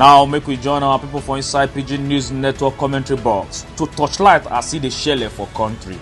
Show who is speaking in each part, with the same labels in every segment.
Speaker 1: now make we join our people for inside pidgin news network commentary box to torchlight as e dey shele for country.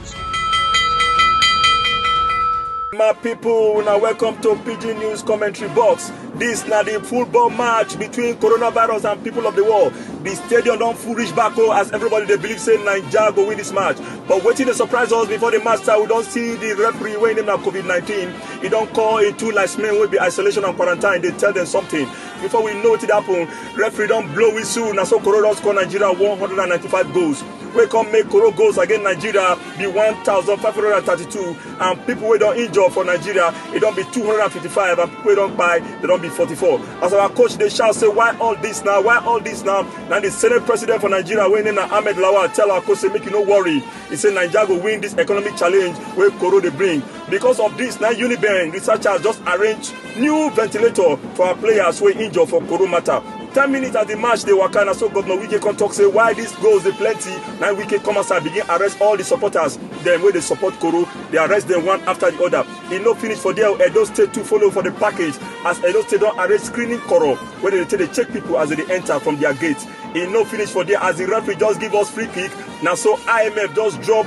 Speaker 1: my people una welcome to pidgin news commentary box dis na di football match between coronavirus and people of di world di stadium don full reach back o as everybody dey believe say naija go win dis match but wetin dey surprise us before di match start we don see di referee wey name na covid-19 e don call e two last men wey be isolation and quarantine dey tell dem something before we know wetin dey happen referee don blow whistle na so koro don score nigeria 195 goals wey come make koro goals against nigeria be 1532 and pipo wey don injure for nigeria e don be 255 and pipo wey don kpai dem don be 44 as our coach dey shout say why all dis now why all dis now na di senate president for nigeria wey name na ahmed lawal tell our coach say make e no worry e say nigeria go win dis economic challenge wey koro dey bring Because of this, now Unibank researchers just arrange new ventilator for our players wey injure for Koro matter. 10 minutes as the match dey waka na so governor wike come talk say why dis goals dey plenty na wike come outside begin arrest all di supporters dem wey dey support koro dey arrest dem one after di other e no finish for there edo state too follow for di package as edo state don arrange screening koro wey dey take dey check pipo as dem dey enta from dia gate e no finish for there as di referee just give us free kick na so imf just drop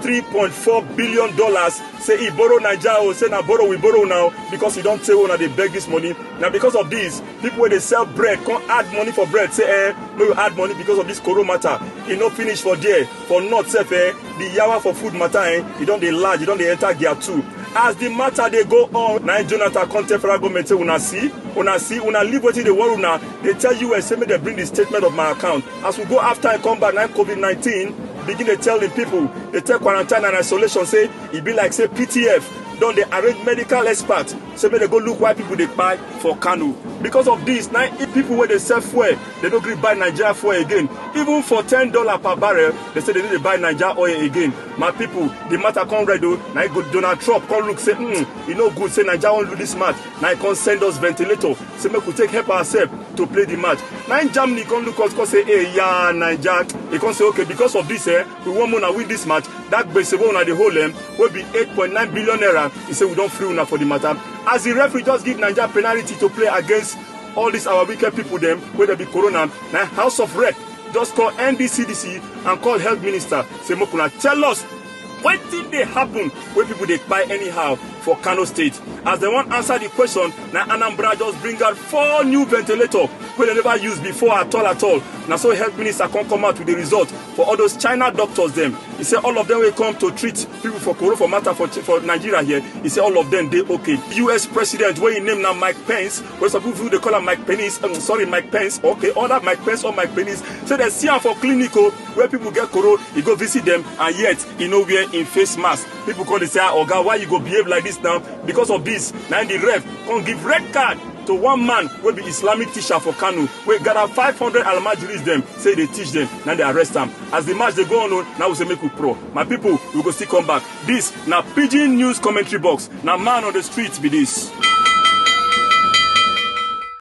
Speaker 1: 3.4 billion dollars say e borrow naija o say na borrow we borrow now because e don tey una dey beg dis money na because of dis pipo wey dey sell bread come add money for bread say eh make we add money because of dis koro matter e no finish for there for north sef eh di yawa for food matter eh e don dey large e don dey enter gear two as di matter dey go on na jonathan come tell federal government say una see una see una leave wetin dey worry una dey tell us say make dem bring di statement of my account As we go after and come back, now COVID-19 begin to tell the people, they tell quarantine and isolation, say, it be like, say, PTF, don dey arrange medical experts say make dem go look why people dey kpai for kano because of this na if people wey dey sell fuel dey no gree buy naija fuel again even for ten dollar per barrel dey say dey no dey buy naija oil again my people the matter come red o na e go donald trump come look say mm, e no good say naija wan lose this match na im come send us ventilator say make we take help ourselves to play the match na im germany come look us come say hey ya naija e come say okay because of this eh we wan make una win this match that gbese wey una dey hold em wey be eight point nine billion naira e say we don free una for the matter as the referee just give naija penalty to play against all these our wicked people dem wey dey be corona na house of rep just call ndcdc and call health minister say make una tell us Wetin dey happen wey people dey kpai anyhow for Kano State? As dem wan answer the question, na Anambra just bring out four new ventilator wey dem never use before at all at all. Na so health minister come come out with the result for all those China doctors dem. He say all of them wey come to treat people for Koro for matter for, for Nigeria here, he say all of them dey okay. US president wey im name na Mike Pence, wey some people dey call am Mike Penis, um, sorry Mike Pence, okay, other Mike Pence or Mike Penis, say dem see am for clinic o. wey people get koro e go visit dem and yet e no wear im face mask people come dey say ah oga why you go behave like this now because of this na im the ref come give red card to one man wey be islamic teacher for kano wey gather five hundred almajiris dem say e dey teach dem na im dey arrest am as the match dey go on o na we say make we pro my people we go still come back this na pidgin news commentary box na man on the street be this.